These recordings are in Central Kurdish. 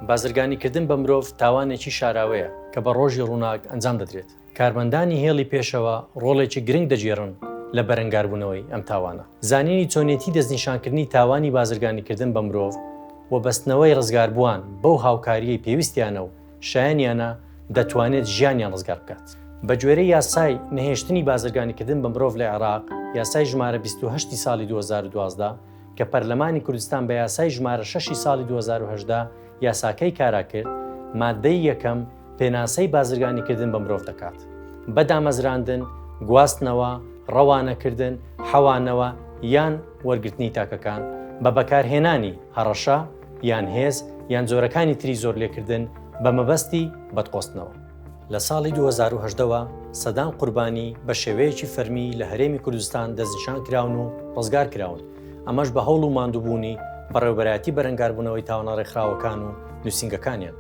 بازرگانیکردن بە مرۆڤ تاوانێکی شاراوەیە کە بە ڕۆژی ڕووناک ئەنجام دەدرێت کارمەندانی هێڵی پێشەوە ڕۆڵێکی گرنگ دەگێڕن لە بەرەنگاربوونەوەی ئەم تاوانە زانینی چۆنێتی دەستنیشانکردنی تاوانی بازرگانیکردن بە مرۆڤ و بەستنەوەی ڕزگاربووان بەو هاوکاریی پێویستیانە و شایەنیانە دەتوانێت ژیانیان ڕزگار بکات بە گوێرە یاسای نەهێشتنی بازرگانیکردن بە مرۆڤ لە عێراق یاسای ژمارە 28 ساڵی 2012 کە پەرلەمانی کوردستان بە یاسای ژمارە شەشی ساڵی دوو هەزار و هەژدە یاساکەی کارا کرد، ماددەی یەکەم پێناسەی بازرگانیکردن بە مرۆڤ دەکات بە دامەزراندن، گواستنەوە، ڕەوانەکردن، حەوانەوە یان وەرگرتنی تاکەکان بە بەکارهێنانی هەڕەشە یان هێز یان جۆرەکانی تری زۆرلێکردن بە مەبەستی بەدقۆستنەوە. لە ساڵی دوو هەزار و هەژدە وە سەدان قوربانی بە شێوەیەکی فەرمی لە هەرێمی کوردستان دەستنیشان کراون و ڕزگار کراون، ئەمەش بە هەوڵ و ماندووبوونی بەڕێوەبەرایەتی بەرەنگاربوونەوەی تاوانە ڕێکخراوەکان و نووسینگەکانیان،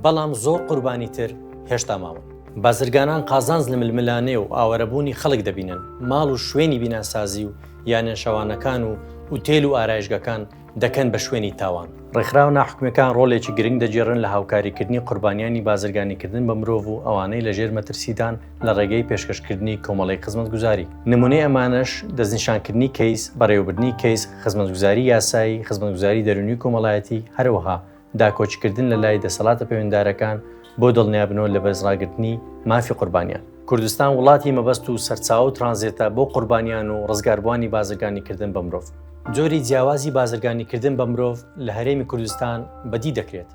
بەڵام زۆر قوربانی تر هێشتا ماون. بازرگانان قازانج لە ململانێ و ئاوارەبوونی خەڵک دەبینن، ماڵ و شوێنی بیناسازی و یانەنشەوانەکان و ئوتێل و ئارایشگەکان، دەکەن بە شوێنی تاوان. ڕێکخراوە ناحکومیەکان ڕۆلێکی گرنگ دەگێڕن لە هاوکاریکردنی قوربانیانی بازرگانیکردن بە مرۆڤ و ئەوانەی لە ژێر مەترسیدان لە ڕێگەی پێشکەشکردنی کۆمەڵێک خزمەتگوزاری. نمونەی ئەمانەش، دەستنیشانکردنی کەیس، بەڕێوەبردنی کەیس، خزمەتگوزاری یاسایی، خزمەتگوزاری دەرونی و کۆمەڵایەتی، هەرەوەها داکۆکیکردن لە لای دەسەڵاتە پەیوەندارەکان بۆ دڵنیابنەوە لە بەرزڕاگرتنی مافی قوربانیان. کوردستان وڵاتی مەبەست و سەرچاوە و ترانزێتە بۆ قوربانیان و ڕزگاربووانی بازرگانیکردن بە مرۆڤ. جۆری جیاوازی بازرگانیکردن بە مرۆڤ لە هەرێمی کوردستان بەدی دەکرێت،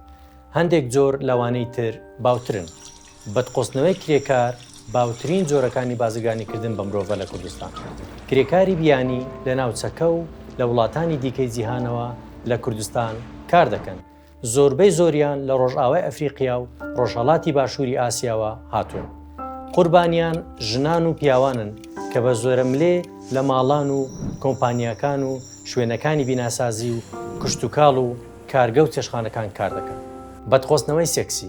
هەندێک جۆر لەوانەی تر باوترن. بەدقۆزتنەوەی کرێکار باوترین جۆرەکانی بازرگانیکردن بە مرۆڤە لە کوردستان. کرێکاری بیانی لە ناوچەکە و لە وڵاتانی دیکەی جیهانەوە لە کوردستان کار دەکەن، زۆربەی زۆریان لە ڕۆژئاوای ئەفریقیا و ڕۆژهەڵاتی باشووری ئاسیاوە هاتوون. قوربانیان ژنان و پیاوانن کە بە زۆرەملێ لە ماڵان و کۆمپانیاکان و شوێنەکانی بیناسازی و کشتوکاڵ و کارگە و چێشتخانەکان کار دەکەن. بەدقۆزتنەوەی سێکسی.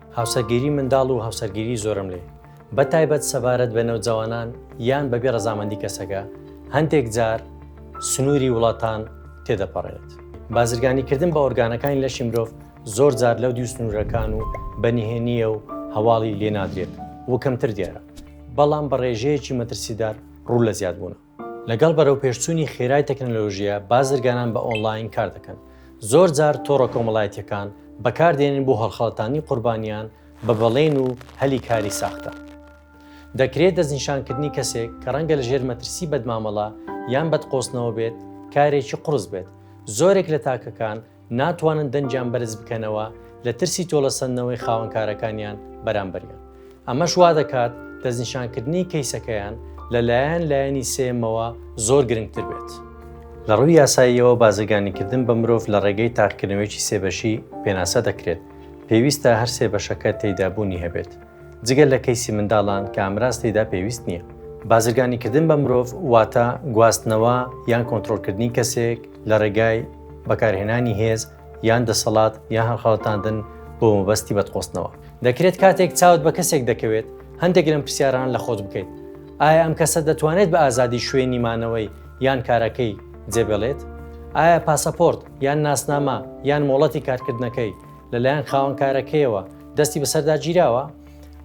هاوسەرگیری منداڵ و هاوسەرگیری زۆرەملێ، بە تایبەت سەبارەت بە نەوجەوانان یان بەبێ ڕەزامەندی کەسەکە، هەندێک جار سنووری وڵاتان تێدەپەڕێت. بازرگانیکردن بە ئۆرگانەکانی لەشی مرۆڤ زۆر جار لەودیو سنوورەکان و بە نهێنییە و هەواڵی لێنادرێت و کەمتر دیارە، بەڵام بە ڕێژەیەکی مەترسیدار ڕوو لە زیادبوونە. لەگەڵ بەرەوپێشچوونی خێرای تەکنەلۆژیا بازرگانان بە ئۆنڵاین کار دەکەن، زۆر جار تۆڕە کۆمەڵایەتییەکان بەکار دێنن بۆ هەڵخەڵەتاندنی قوربانیان بە بەڵێن و هەلی کاری ساختە. دەکرێت دەستنیشانکردنی کەسێک کە ڕەنگە لەژێر مەترسی بەدمامەڵە یان بەدقۆزتنەوە بێت کارێکی قوڕس بێت، زۆرێک لە تاکەکان ناتوانن دەنگیان بەرز بکەنەوە لە ترسی تۆڵەسەندنەوەی خاوەنکارەکانیان بەرامبەریان ئەمەش وا دەکات دەستنیشانکردنی کەیسەکەیان لەلایەن لایەنی سێمەوە زۆر گرنگتر بێت. لە ڕووی یاساییەوە بازرگانیکردن بە مرۆڤ لە ڕێگەی تاقیکردنەوەیەکی سێ بەشی پێناسە دەکرێت، پێویستە هەر سێ بەشەکە تێیدا بوونی هەبێت. جگە لە کەیسی منداڵان کە ئامراز تێیدا پێویست نییە. بازرگانیکردن بە مرۆڤ واتە گواستنەوە یان کۆنترۆڵکردنی کەسێک لە ڕێگای بەکارهێنانی هێز یان دەسەڵات یان هەڵخەڵەتاندن بۆ مەبەستی بەدخۆستنەوە. دەکرێت کاتێک چاوت بە کەسێک دەکەوێت هەندێک لەم پرسیارانە لە خۆت بکەیت، ئایا ئەم کەسە دەتوانێت بە ئازادی شوێنی مانەوەی یان کارەکەی جێبێڵێت؟ ئایا پاسەپۆرت یان ناسنامە یان مۆڵەتی کارکردنەکەی لەلایەن خاوەنکارەکەیەوە دەستی بەسەردا گیراوە؟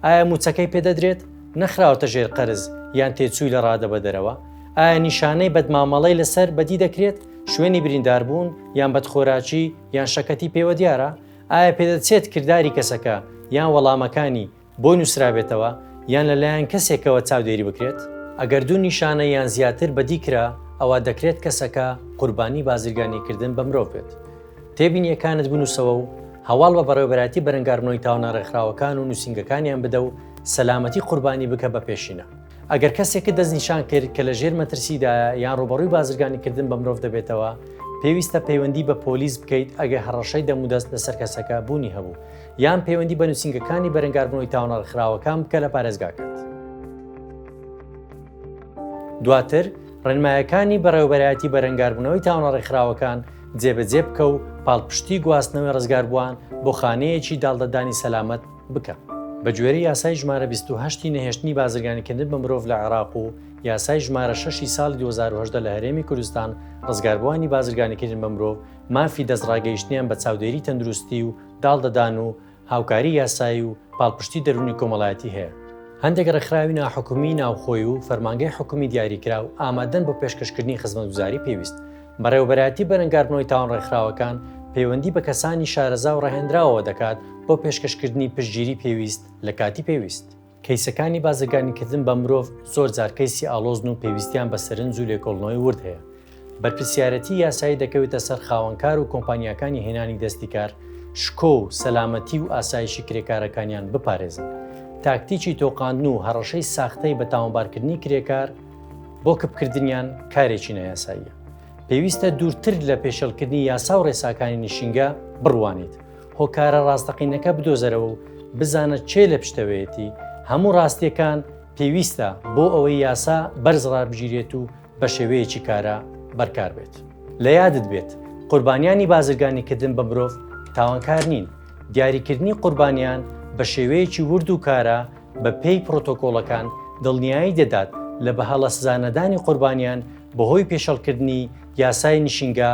ئایا موچەکەی پێدەدرێت؟ نەخراوەتە ژێر قەرز یان تێچووی لە ڕادەبەدەرەوە؟ ئایا نیشانەی بەدمامەڵەی لەسەر بەدی دەکرێت شوێنی برینداربوون یان بەدخۆراکی یان شەکەتی پێوە دیارە؟ ئایا پێدەچێت کردداری کەسەکە یان وەڵامەکانی بۆی نووسرابێتەوە یان لەلایەن کەسێکەوە چاودێری بکرێت، ئەگەر دوو نیشانە یان زیاتر بەدی کرا ئەوا دەکرێت کەسەکە قوربانی بازرگانیکردن بە مرۆڤ بێت. تێبینییەکانت بنووسەوە و هەواڵ بە بەڕێوەبەرایەتی بەرەنگاربوونەوەی تاوانە ڕێکخراوەکان و نووسینگەکانیان بدە و سەلامەتی قوربانی بکە بە پێشینە. ئەگەر کەسێکت دەستنیشان کرد کە لە ژێر مەترسیدایە یان ڕووبەڕووی بازرگانیکردن بە مرۆڤ دەبێتەوە، پێویستە پەیوەندی بە پۆلیس بکەیت ئەگەر هەڕەشەی دەمودەست لەسەر کەسەکە بوونی هەبوو. یان پەیوەندی بە نووسینگەکانی بەرەنگاربوونەوەی تاوانە ڕخراوەکان بکە لە پارێزگاکەت. دواتر ڕێنمایەکانی بەڕێوبەرایەتی بەرەنگاربوونەوەی تاوانە ڕێکخراوەکان جێبەجێ بکە و پاڵپشتی گواستنەوەی ڕزگاربووان بۆ خانەیەکی داڵدەدانی سەلامەت بکە. بە گوێرەی یاسای ژمارە 28 ی نەهێشتنی بازرگانیکردن بە مرۆڤ لە عێراق و یاسای ژمارە 6 ی ساڵی 2018 لە هەرێمی کوردستان، ڕزگاربووانی بازرگانیکردن بە مرۆڤ مافی دەستڕاگەیشتنیان بە چاودێری تەندروستی و داڵدەدان و هاوکاری یاسایی و پاڵپشتی دەروونی کۆمەڵایەتی هەیە. هەندێک ڕێکخراوی ناحکومیی ناوخۆی و فەرمانگەی حکومی دیاریکراو ئامادەن بۆ پێشکەشکردنی خزمەتگوزاری پێویست. بەڕێوەبەرایەتی بەرەنگاربوونەوەی تاوان ڕێکخراوەکان پەیوەندی بە کەسانی شارەزا و ڕەهێندراوەوە دەکات بۆ پێشکەشکردنی پشتگیری پێویست لە کاتی پێویست. کەیسەکانی بازرگانیکردن بە مرۆڤ زۆر جار کەیسی ئاڵۆزن و پێویستیان بە سەرنج و لێکۆڵنەوەی ورد هەیە. بەرپرسیارێتی یاسایی دەکەوێتە سەر خاوەنکار و کۆمپانیاکانی هێنانی دەستی کار شکۆ و سەلامەتی و ئاسایشی کرێکارەکانیان بپارێزن. تاکتیکی تۆقاندن و هەڕەشەی ساختەی بە تاوانبارکردنی کرێکار بۆ کپکردنیان کارێکی نایاساییە. پێویستە دوورتر لە پێشێڵکردنی یاسا و ڕێساکانی نشینگە بڕوانیت هۆکارە ڕاستەقینەکە بدۆزەرەوە و بزانە چێ لە پشتەوەیەتی، هەموو ڕاستیەکان پێویستە بۆ ئەوەی یاسا بەرز ڕابگیرێت و بە شێوەیەکی کارا بەرکار بێت. لە یادت بێت قوربانیانی بازرگانیکردن بە مرۆڤ تاوانکار نین، دیاریکردنی قوربانیان بە شێوەیەکی ورد و کارا بە پێی پرۆتۆکۆڵەکان دڵنیایی دەدات لە بەهەڵە سزانەدانی قوربانیان بەهۆی پێشێڵکردنی یاسای نشینگە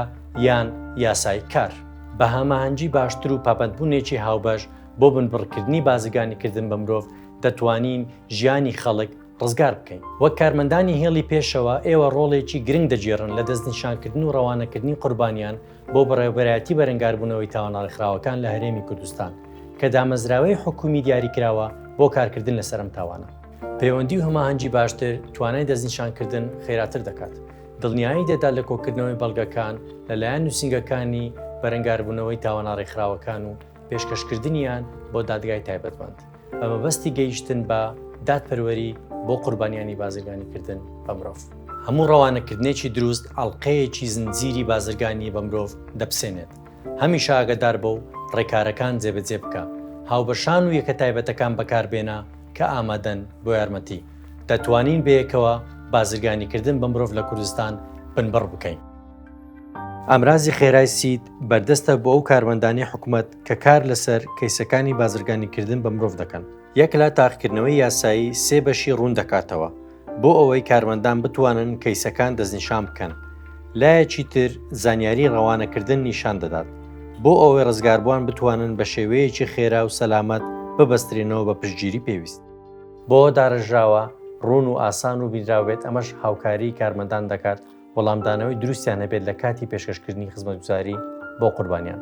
یان یاسای کار بە هاماهەنگی باشتر و پابەندبوونێکی هاوبەش بۆ بنبڕکردنی بازرگانیکردن بە مرۆڤ دەتوانین ژیانی خەڵک ڕزگار بکەین. وەک کارمەندانی هێڵی پێشەوە، ئێوە ڕۆڵێکی گرنگ دەگێڕن لە دەستنیشانکردن و ڕەوانەکردنی قوربانیان بۆ بەڕێوەبەرایەتی بەرەنگاربوونەوەی تاوانە ڕێکخراوەکان لە هەرێمی کوردستان کە دامەزراوەی حکوومی دیاریکراوە بۆ کارکردن لەسەر ئەم تاوانە. پەیوەندی و هەماهەنگی باشتر توانای دەستنیشانکردن خێراتر دەکات. دڵنیایی دەدات لە کۆکردنەوەی بەڵگەکان لەلایەن نووسینگەکانی بەرەنگاربوونەوەی تاوانە ڕێکخراوەکان و پێشکەشکردنیان بۆ دادگای تایبەتمەند بە مەبەستی گەیشتن بە دادپەروەری بۆ قوربانیانی بازرگانیکردن بە مرۆڤ. هەموو ڕەوانەکردنێکی دروست ئەڵقەیەکی زنجیری بازرگانی بە مرۆڤ دەپسێنێت، هەمیشە ئاگەدار بە و ڕێکارەکان جێبەجێ بکە، هاوبەشان و یەکە تایبەتەکان بەکاربێنە کە ئامادەن بۆ یارمەتی. دەتوانین بەیەکەوە بازرگانیکردن بە مرۆڤ لە کوردستان بنبڕ بکەین. ئامرازی خێرای سید بەردەستە بۆ ئەو کارمەندانی حکومەت کە کار لەسەر کەیسەکانی بازرگانیکردن بە مرۆڤ دەکەن. یەک لە تاقیکردنەوەی یاسایی سێ بەشی ڕوون دەکاتەوە بۆ ئەوەی کارمەندان بتوانن کەیسەکان دەستنیشان بکەن، لایەکی تر زانیاری ڕەوانەکردن نیشان دەدات بۆ ئەوەی ڕزگاربووان بتوانن بە شێوەیەکی خێرا و سەلامەت ببەسترێنەوە بە پشتگیری پێویست. بۆ دارەژراوە، ڕوون و ئاسان و بینراو بێت، ئەمەش هاوکاریی کارمەندان دەکات وەڵامدانەوەی دروستیان هەبێت لە کاتی پێشکەشکردنی خزمەتگوزاری بۆ قوربانیان.